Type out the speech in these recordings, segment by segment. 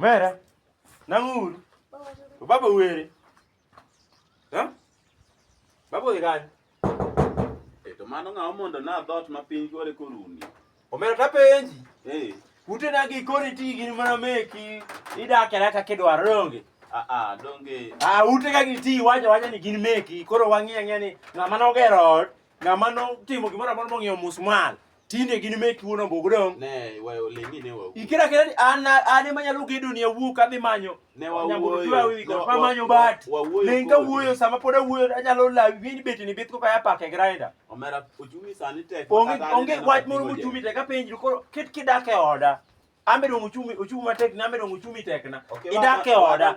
Mera, nang'uru. To baba were. Ha? Baba odhi kanye? Eh, to mano ng'awa mondo na dhot ma piny gore koruni. Omera tapenji. Eh. Ute na gi kori ti gin mana meki. Idak era kaka idwaro donge. Ah ah donge. Ah ute ka gi ti wacho wacho ni gin meki. Koro wang'iya ng'e ni ng'ama nogero ot, ng'ama notimo gimoro amoro mong'iewo musmal. tinde gin mek wuon ombugu dong ne wayo lengi ne wayo ikira kira ni an an ema nyalo gedo ni awuo ka dhi manyo ne wayo pa manyo bat lenga wuoyo sama pod awuoyo anyalo lawi win beti ni bitko kaya pake grinder omera ochumi sani tek onge onge wach moro mochumi tek apenji koro ket kidake oda ambe dong ochumi ochumi matek ni ambe dong ochumi tekna idak e oda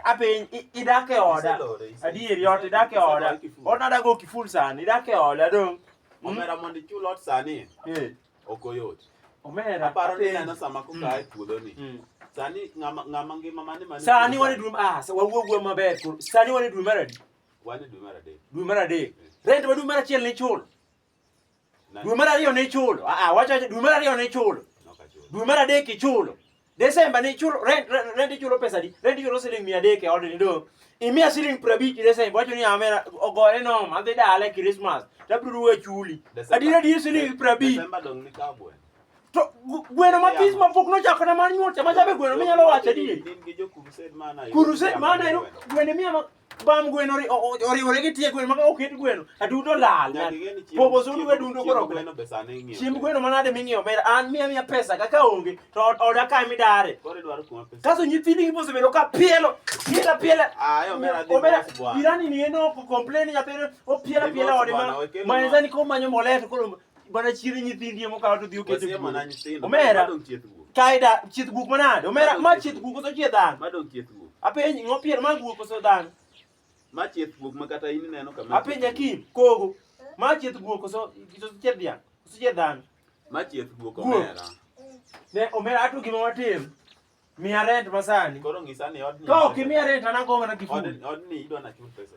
ape idak e oda adier yot idak e oda ot nada go kiful sani idak e oda dong hmm? omera mondo ichul ot sani eh. ok oyot omera aparo ni neno sama koka hmm. e puodho ni hmm. sani ngama ngama ngima mane mane sani wane dwe ah wawuo gwe maber sani wane dwe mar adi wane dwe mar adek dwe mar adek eh. rent ma dwe mar achiel ni chul Dwe mar ariyo ne ichulo. Ah, ah wacha dwe mar ariyo ne ichulo. Dwe mar adek ichulo. Desemba ne ichulo rent rent ichulo pesa di? Rent ichulo siling 300 e od ni do. Imiya siling 50 Desemba wacho ni amera ogore no ma dhi dala Christmas. Tabiro we chuli. Adira di siling 50. Desemba dong ni kabwe. To gweno matis ma pok nochako na mar nyuol chama chabe gweno minyalo wacho di. Kurused mana. Kurused mana gweno miya bam gweno ri- o- o- oriwore gi tie gweno maka oket gweno adudo lal Nyaka ing'e ni chiemb- popo sudu we chiemb- dundo chiemb koro gweno be sani ing'iewo. chiemb gweno manade ming'iewo omera an miya miya pesa kaka onge to od- oda kae midare Koro idwaro kuma pesa. kaso nyithindi gi mosebedo ka pielo piela piela Ah, yo, omera dhi omera mos bwana. jirani ni eno ko complain nyathine o piela Dhi piela mos ode bwana, ma wekele ma mos. enzani ko manyo mbolea to koro Bwana chiri nyithindi emo kawo to dhi oketo e mana nyithindo. Omera. Kaida chieth guk manade? Omera ma chieth guk koso chieth dhano? Ma dong chieth guk. Apenji ng'o pier ma guk koso dhano? Ma chieth guk ma kata in ineno kama. Apenji akim kogo. Ma chieth guk koso chieth dhiang'? Koso chieth dhano? Ma chieth guk omera. Ne omera atu gima watim. Miya rent masani. Koro ng'isa ni odni. Ka ok imiya rent anagomana kifuli. Odni idwa nachul pesa.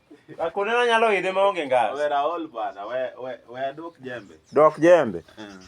Akone na nyalo ide ma onge ngas. We Raol bana, we we we adok jembe. Dok jembe. Mm.